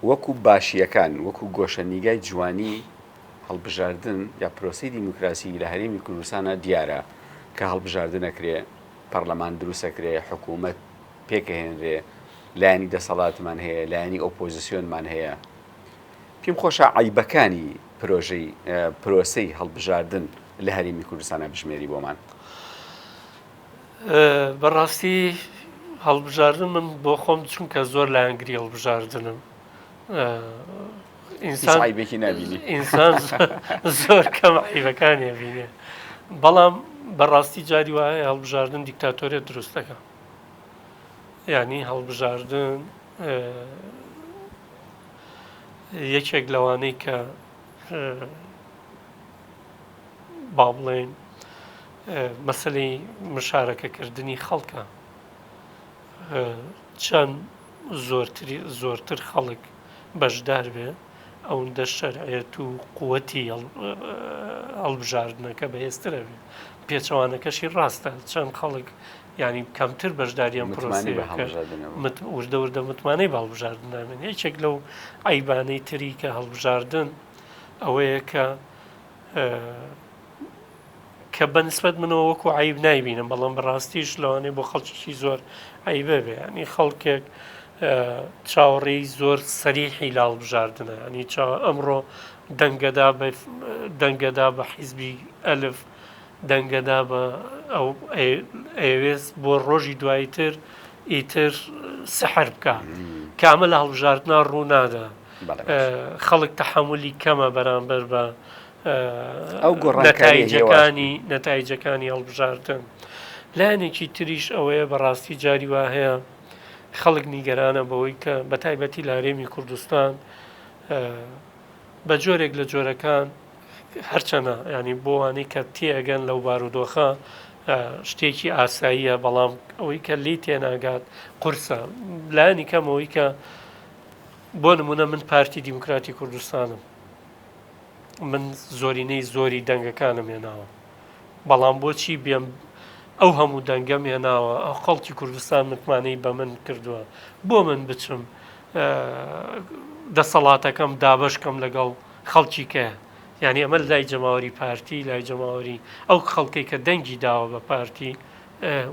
وەکو باشیەکان وەکو گۆشە نیگای جوانی هەڵبژاردن یا پرۆسی دیموکراسی لە هەرێمی کوردستانە دیارە کە هەڵبژاردنەکرێ پەرلەمان دروستەکرێ حکوومەت پێکهێنرێ لایەنی دەسەڵاتمان هەیە لایەنی ئۆپۆزیسیۆنمان هەیە پێم خۆشە عەیبەکانی پرۆژەی پرۆسەی هەڵبژاردن لە هەرێمی کوردستانە بژمێری بۆمان بەڕاستی هەڵبژاردن من بۆ خۆم چونکە زۆر لایەنگری هەڵبژاردنم ئینسانبێکی نبینی ئینسان زۆر کەم عیبەکانی بینێ بەڵام بەڕاستی جاری وایە هەڵبژاردن دیکتاتۆریە دروستەکە ینی هەڵبژاردن یەکێک لەوانەی کە با بڵێن مەسلەی مشارەکەکردنی خەڵکە چەند زۆرتری زۆرتر خەڵک بەشدار بێ ئەوەندە شەرعێت و قوەتی هەڵبژاردنەکە بەهێزترە بێت پێچەوانەکەشی ڕاستە چەند خەڵک یعنی کەمتر بەشداریان پرۆسی وردە وردە متمانەی هەڵبژاردن نامێن یەکێک لەو ئەیبانەی تری کە هەڵبژاردن ئەوەیە کە کە بەنسبەت منەوە وەکو عیب نایبینم بەڵام بەڕاستیش لەوانێ بۆ خەڵکیی زۆر عیبە بێ ینی خەڵکێک چاوەڕێی زۆر سەریحی لاڵ بژاردنە ئەنی چاوە ئەمڕۆ دەنگەدا دەنگەدا بە حیزبی ئەلف دەنگە دا بە ئەو ئەیەوێت بۆ ڕۆژی دوایی تر ئیتر سەحر بکە کامە لە هەڵبژاردنا ڕوونادا خەڵک تەحملی کەمە بەرامبەر بە ئەو گۆڕەکانیەکانی نەتایجەکانی هەڵبژاردن لایەنێکی تریش ئەوەیە بەڕاستی جاری وا هەیە خەڵک نیگەرانە بەوەی کە بە تایبەتی لارێمی کوردستان بە جۆرێک لە جۆرەکان هەرچەنە ینی بۆ وانەی کە تێگەن لەو بارودۆخە شتێکی ئاساییە بەڵام ئەوەی کە لی تێناگات قورسە لایەنی کەمەوەی کە بۆ نمونە من پارتی دیموکراتی کوردستانم من زۆرینەی زۆری دەنگەکانم هێناوە بەڵام بۆچی بێم ئەو هەموو دەنگەم هێناوە ئەو خەڵکی کوردستان متمانەی بە من کردووە بۆ من بچم دەسەڵاتەکەم دابەش کەم لەگەڵ خەڵکی کەیە. یانی ئەمە لای جەماوەری پارتی لای جەماوەری ئەو خەڵکەی کە دەنگی داوە بە پارتی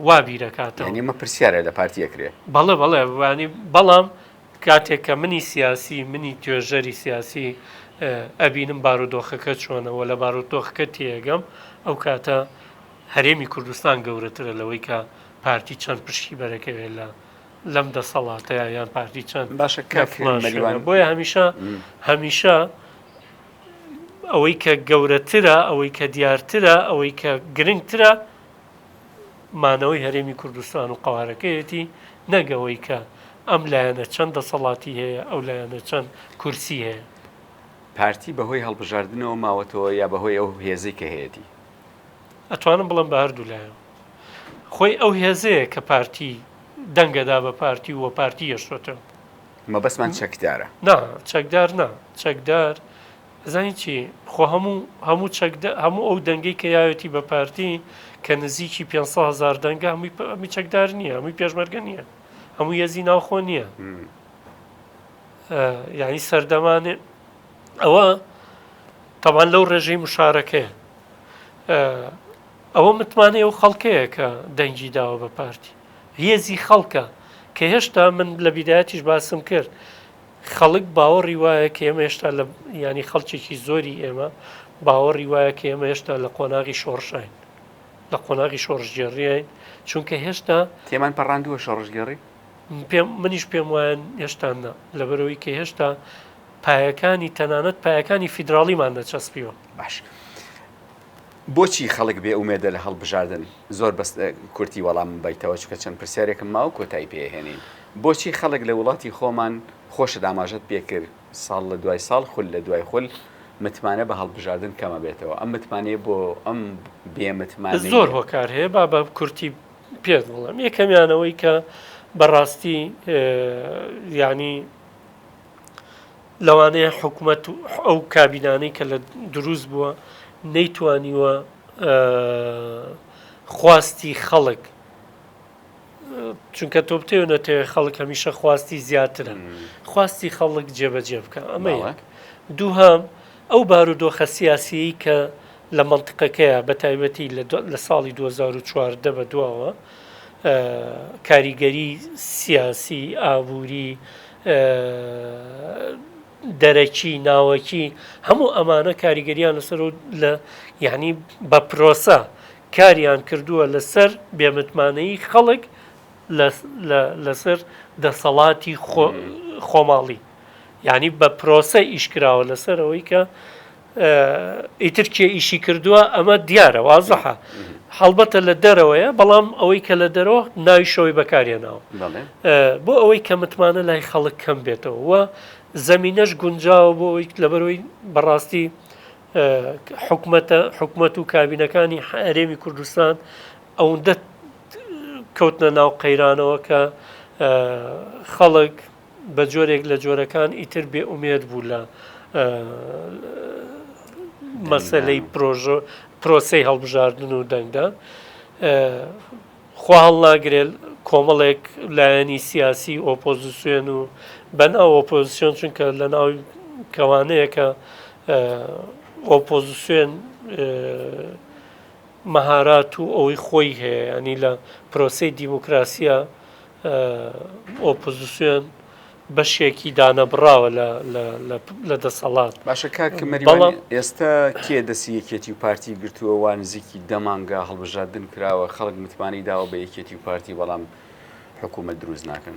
وا بیرەکاتەوە. یانی ئەمە پرسیارە لە پارتی ئەکرێ. بەڵێ بەڵێ یانی بەڵام کاتێک کە منی سیاسی منی توێژەری سیاسی ئەبینم بارودۆخەکە چۆنە وە لە بارودۆخەکە تێئەگەم ئەو کاتە هەرێمی کوردستان گەورەترە لەوەی کە پارتی چەند پشکی بەرەکەوێ لە لەم دەسەڵاتەیە یان پارتی چەند باشە کە مەریوان بۆیە هەمیشە هەمیشە ئەوەی کە گەورەترە ئەوەی کە دیارترە ئەوەی کە گرنگترە مانەوەی هەرێمی کوردستان و قوارەکەیەتی نەگەوەی کە ئەم لایەنە چەند دەسەڵاتی هەیە ئەو لایەنە چەند کورسی هەیە پارتی بەهۆی هەڵبژاردنەوە ماوەتەوە یا بەهۆی ئەو هێزی کە هەیەی ئەتوانم بڵێم بە هەردوو لایەن خۆی ئەو هێزەیە کە پارتی دەنگەدا بە پارتی و پارتی یەشتۆتە مەبەستمان چەکدارە نا چەکدار نا چەکدار زانی چی خۆ هەموو هەموو چەکدە هەموو ئەو دەنگەی کە یاوێتی بە پارتی کە نزیکی 500 هزار دەنگە هەمووی هەمی چەکدار نییە هەمووی پێشمەرگە نییە هەموو یەزی ناوخۆ نییە یعنی سەردەمانێ ئەوە تەبان لەو ڕێژەی مشارەکەی ئەوە متمانەیە و خەڵکەیە کە دەنگی داوە بە پارتی هێزی خەڵکە کە هێشتا من لە بیدایەتیش باسم کرد خەڵک باوەڕی وایە کە ئێمە هێشتا لە ینی خەڵکێکی زۆری ئێمە باوەڕی وایە کە ئێمە هێشتا لە قۆناغی شۆڕشین لە قۆناغی شۆڕژگێڕیین چونکە هێشتا تێمان پەڕاندووە شۆڕژگێڕی پێم منیش پێم وایە هێشتاننا لەبەرەوەی کە هێشتا پایەکانی تەنانەت پایەکانی فیدراڵیمان دەچەسپیوە. باش بۆچی خەڵک بێ ئومێدە لە هەڵبژاردن زۆر بەس کورتی وەڵام بەیتەوە چکە چەند پرسیارێکم ماو کۆتایی پێهێنین بۆچی خەڵک لە وڵاتی خۆمان خۆشە داماژەت پێکرد ساڵ لە دوای ساڵ خول لە دوای خول متمانە بە هەڵبژاردن کەمە بێتەوە ئەم متمانەیە بۆ ئەم بێمتمان زۆر هۆکار هەیە با بە کورتی پێت بڵم یەکەمیانەوەی کە بەڕاستی یعنی لەوانەیە حکومەت و ئەو کابینانەی کە لە دروست بووە نەیتوانیوە خواستی خەڵک چونکە تۆ بتێو نەتەوێ خەڵک هەمیشە خواستی زیاترە خواستی خەڵک جێبەجێ بکە ئەمە دووهام ئەو بارودۆخە سیاسیی کە لە منطقەکەیە بە تایبەتی لە ساڵی 2014 بە دواوە کاریگەری سیاسی ئابووری دەرەکی، ناوەکی، هەموو ئەمانە کاریگەریان لەسەر و لە یعنی بە پرۆسە کاریان کردووە لەسەر بێمتمانەیی خەڵک لەسەر دەسەڵاتی خۆماڵی یعنی بە پرۆسە ئیشکراوە لەسەر ئەوەی کە ئیتر کێ ئیشی کردووە ئەمە دیارە وازەحە هەڵبەتە لە دەرەوەیە بەڵام ئەوەی کە لە دەرەوە ناوی شەوەی بەکارێناوە بۆ ئەوەی کە متمانە لای خەڵک کەم بێتەوە و زەمینەش گونجاوە بۆ ئەوی لەبەرەوەی بەڕاستی حکومەتە حکومەت و کابینەکانی هەرێمی کوردستان ئەوەندە کەوتنە ناو قەیرانەوە کە خەڵک بە جۆرێک لە جۆرەکان ئیتر بێ ئومێد بوو لە مەسلەی پرۆژۆ پرۆسی هەڵبژاردن و دەنگدان خوا هەڵناگرێت کۆمەڵێک لایەنی سیاسی ئۆپۆزیسیۆن و بەن ئەو ئۆپۆزیسیۆن چونکە لە ناو کەوانەیەکە ئۆپۆزیسیۆن مەهارات و ئەوەی خۆی هەیە ینی لە پرۆسی دیموکراسیە ئۆپۆزسیۆن بەشێکی دانەبڕاوە لە دەسەڵات باشە کاک مەریوان ئێستا کێ دەسی یەکێتی و پارتی گرتووە وا نزیکی دەمانگا هەڵبژاردن کراوە خەڵک متمانەی داوە بە یەکێتی و پارتی بەڵام حکوومەت دروست ناکەن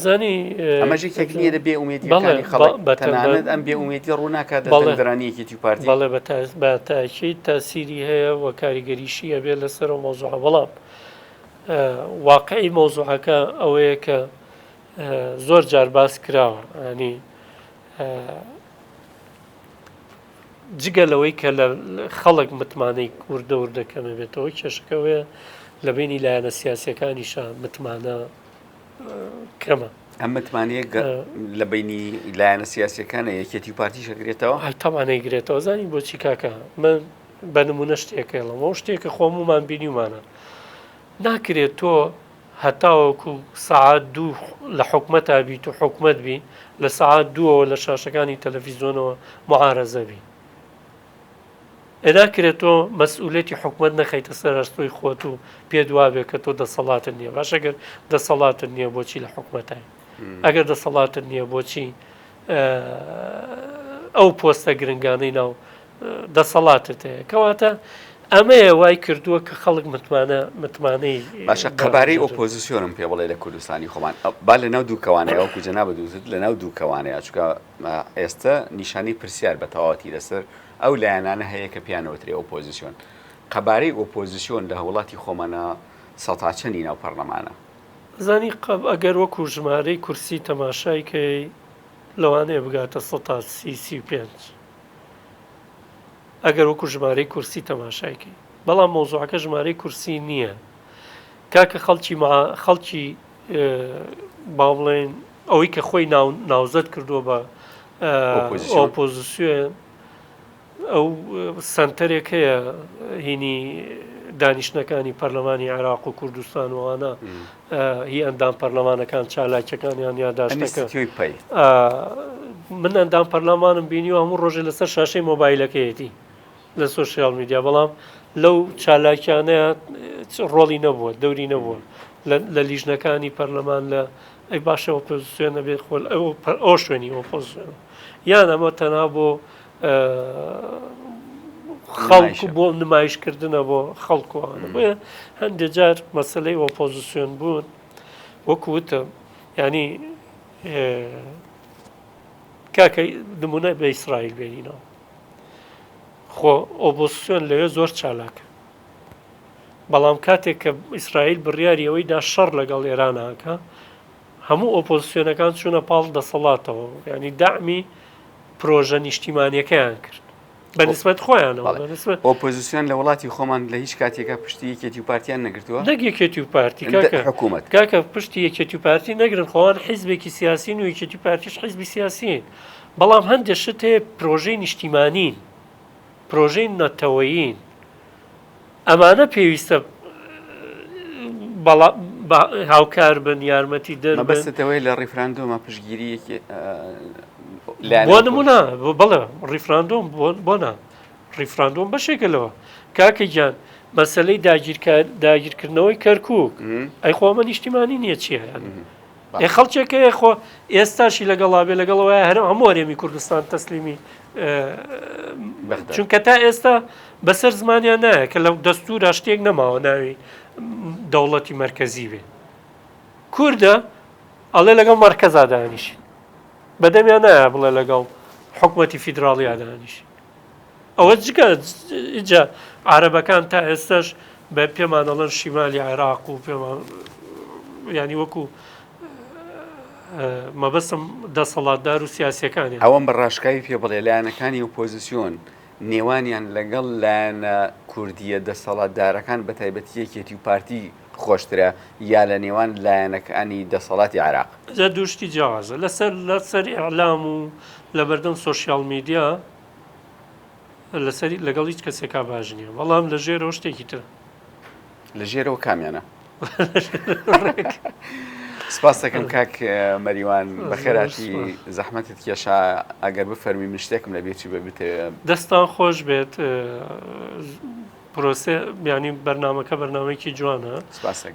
زانی ئەمەژی تەکنیە لە بێ ئومێدیەکانی خەڵک بەتەنانەت ئەم بێ ئومێدی ڕووناکات دەڵێدرانیەکێتی و پارتی بەڵێ بە باتاکی تاسیری هەیە و کاریگەریشی هەبێت لەسەر و مۆزوع بەڵام واقعی مەوزوعەکە ئەوەیە کە زۆر جار باس کراوە ئەنی جگە لەوەی کە لە خەڵک متمانەی کوردە و دەکەمە بێتەوە کێشەکەوەیە لە بینی لایەنە سیاسەکانیشە متمانە کەمە ئەم متمانەیە لە بینی لایەنە سیاسەکانە یەکێتی و پارتیشەگرێتەوە هەتەمانەی گرێتەوە زانی بۆچی کاکە من بە نمونە شتێک ئێڵم ئەو شتێک کە خۆم ومان بینیمانە ناکرێت تۆ هەتاوەکو سعات دوو لە حکومەتا بیت و حکومت بی لە سعات دووەوە لە شاشەکانی تەلەفیزیۆنەوە معارەزە بی ئەداکرێت تۆ مەسئولێتی حکومت نەخیتە سەرستۆی خۆت و پێ دوابێت کە تۆ دەسەڵاتن نییە باشەگەر دەسەڵاتن نییە بۆچی لە حکومەتای ئەگەر دەسەڵاتن نییە بۆچی ئەو پۆستە گرنگانەی ناو دەسەڵاتت هەیە کەواتە ئەمەیە وای کردووە کە خەڵک متمانە متمانەی باشە قەبارەی ئۆپۆزیسیۆنم پێ بڵێ لە کوردستانی خۆمان با لە ناو دووکەوانەیە وەکو جەنا بە دووزت لە ناو دووکەوانەیە چکە ئێستا نیشانەی پرسیار بە تەواتی لەسەر ئەو لایەنانە هەیە کە پیانەوەترێ ئۆپۆزیسیۆن قەبارەی ئۆپۆزیسیۆن لە هەوڵاتی خۆمانە سەتاچەنی ناو پەرلەمانە زانی قەب ئەگەر وەکو ژمارەی کورسی تەماشایکەی لەوانەیە بگاتە 135. ئەگەر وەکو ژمارەی کورسی تەماشای کەی بەڵام مەوزوعەکە ژمارەی کورسی نییە کاکە خەڵکی خەڵکی با بڵێن ئەوەی کە خۆی ناوزەت کردووە بە ئۆپۆزیسیۆن ئەو سنتەرێک هەیە هینی دانیشتەکانی پەرلەمانی عراق و کوردستانوانە هی ئەندام پەرلەمانەکان چالاکیەکانیان یاداشتەکە من ئەندام پەرلەمانم بینی و هەموو ڕۆژێ لەسەر شاشەی مۆبایلەکەیەتی لە سوسیال میدیا بەڵام لەو چالاکیانەیە ڕۆڵی نەبووە دەوری نەبووە لە لیژنەکانی پەرلەمان لە ئەی باشە ئۆپۆزیسیۆن نەبێت خۆل ئەو شوێنی ئۆپۆزیسیۆن یان ئەمە تەنها بۆ خەڵک و بۆ نمایشکردنە بۆ خەڵک و ئەوانە بۆیە هەندێ جار مەسلەی ئۆپۆزیسیۆن بوون وەکو وتم ینی کاکە نمونە بە ئیسرائیل بێنینەوە خۆ ئۆبۆسیۆن لەوێ زۆر چالاکە بەڵام کاتێک کە ئیسرائیل بڕیاری ئەوەی دا شەڕ لەگەڵ ئێراناکە هەموو ئۆپۆزسیۆنەکان چوونە پاڵ دەسەڵاتەوە و یانی دامی پرۆژە نیشتیمانیەکەیان کرد بە نسبەت خۆیانەوە بە نسبەت ئۆپۆزیسیۆن لە وڵاتی خۆمان لە هیچ کاتێکە پشتی یەکێتی و پارتیان نەگرتووە نەک یەکێتی و پارتی کە کاکە حکوومەت کاکە پشتی یەکێتی و پارتی نەگرن خۆوان حیزبێکی سیاسی و یەکێتی و پارتیش حیزبی سیاسین بەڵام هەندێک شت هەیە پرۆژەی نیشتیمانین پرۆژەی نەتەوەیین ئەمانە پێویستە هاوکار بن یارمەتی دەر مەبەستەوەی لە ڕیفراندۆمە پشگیری بۆ نمونە بڵێ ڕیفراندۆم بۆنا ڕیفراندۆم بەشێکە لەوە کاکە گیان مەسلەی داگیرکار داگیرکردنەوەی کەرکک ئەی خۆمە نیشتیمانی نییە چیە ئێ خەڵکێک هەیە خۆ ئێستاشی لەگەڵا بێ لەگەڵ وایە هەر هەموو هەرێمی کوردستان تەسلیمی چونکە تا ئێستا بەسەر زمانیان نایە کە لە دەستورا شتێک نەماوە ناوی دەوڵەتی مرکزی بێ کووردە ئەڵێ لەگەڵ مەرکەزا دانیشی بەدەمیان نایە بڵێ لەگەڵ حکوومەتی فیدراڵیا دانیشی ئەوە جگە ئینجا عارەبەکان تا ئێستاش بە پێمان ئەڵەن شیمالی عێراق و پێمان ینی وەکو مەبەستم دەسەڵاتدار و سیاسەکانی ئەوەم بە ڕاشکاوی پێ بڵێ لایەنەکانی و پۆزیسیۆن نێوانیان لەگەڵ لایەنە کوردیە دەسەڵاتدارەکان بە تایبەتی یەکێتی و پارتی خۆشترە یا لە نێوان لایەنەکانی دەسەڵاتی عراق جا دوشتی جیاوازە لەسەر لەسەر ئەعلام و لە بەردەم سوۆسیال میدیا لەسەری لەگەڵ هیچ کەسێکا باش نییە بەڵام لە ژێرەوە شتێکی تر لە ژێرەوە کامیانە سپاستەکەم کاک مەریوان بەخێراتی زەحمەتت کێشا ئەگەر بفەرمی من شتێکم لە بێچی بە بتێ دەستان خۆش بێت پرۆسێ بیانی بەرنمەکە بەرنمەیەکی جوانە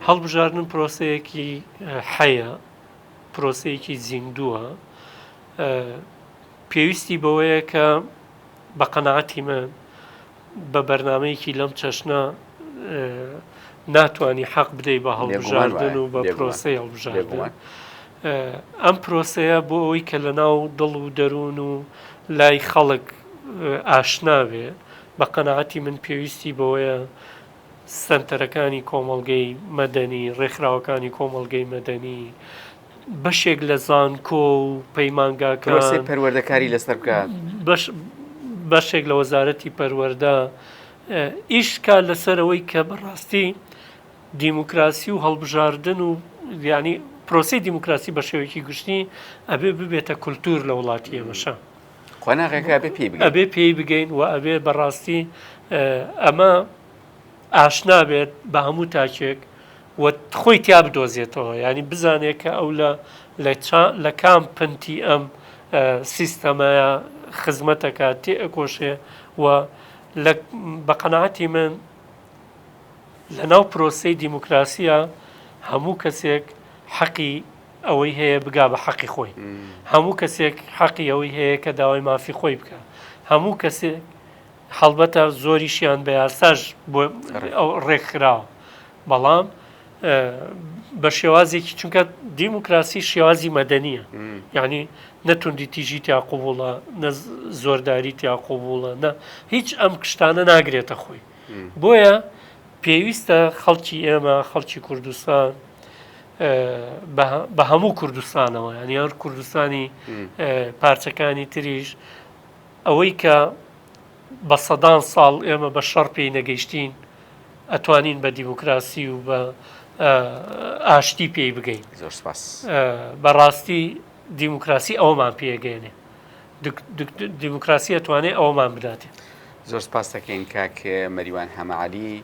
هەڵبژاردن پرۆسەیەکی حەیە پرۆسەیەکی زیندووە پێویستی بەوەیە کە بە قەناعەتی من بە بەرنامەیەکی لەم چەشنە ناتوانی حەق بدەی بە هەڵبژاردن و بە پرۆسی هەڵبژاردن ئەم پرۆسەیە بۆ ئەوەی کە لە ناو دڵ و دەروون و لای خەڵک ئاشناوێ بە قەنەعەتی من پێویستی بەوەیە سنتەرەکانی کۆمەڵگەی مەدەنی ڕێکخراوەکانی کۆمەڵگەی مەدەنی بەشێک لە زانکۆ و پەیمانگاکان پەروەردە کاری لەسەر بکات بەشێک لە وەزارەتی پەروەەردە ئیش کا لەسەرەوەی کە بەڕاستی دیموکراسی و هەڵبژاردن و ینی پرۆسی دیموکراسی بە شێوەیەکی گشتی ئەبێ ببێتە کولتور لە وڵاتی ئێمەشە قۆناغەکە ئەبێ پێی بگەین و ئەبێ بەڕاستی ئەمە ئاشنا بێت بە هەموو تاکێک و خۆی تیا بدۆزێتەوە یانی بزانێت کە ئەو لە لە کام پنتی ئەم سیستەمەیە خزمەتەکە تێ ئەکۆشێ و بە قەنەعەتی من لە ناو پرۆسی دیموکراسیە هەموو کەسێک حەقی ئەوەی هەیە بگا بە حەقی خۆی هەموو کەسێک حەقی ئەوەی هەیە کە داوای مافی خۆی بکە هەموو کەسێک هەڵبەتە زۆریشیان بە یاساش بۆ ئەو ڕێکخراوە بەڵام بە شێوازێکی چونکە دیموکراسی شێوازی مەدەنیە یعنی نەتوندی تیژی تیا قوبوڵە نە زۆرداری تیا قوبوڵە نە هیچ ئەم کشتانە ناگرێتە خۆی بۆیە پێویستە خەڵکی ئێمە خەڵکی کوردستان بە هەموو کوردستانەوە یان یان کوردستانی پارچەکانی تریش ئەوەی کە بە سەدان ساڵ ئێمە بە شەڕ پێی نەگەیشتین ئەتوانین بە دیموکراسی و بە ئاشتی پێی بگەین زۆر سپاس بەڕاستی دیموکراسی ئەومان پێگەێنێ دیموکراسی ئەتوانێت ئەومان بداتێ زۆر سپاس دەکەین کاک مەریوان هەمەعالی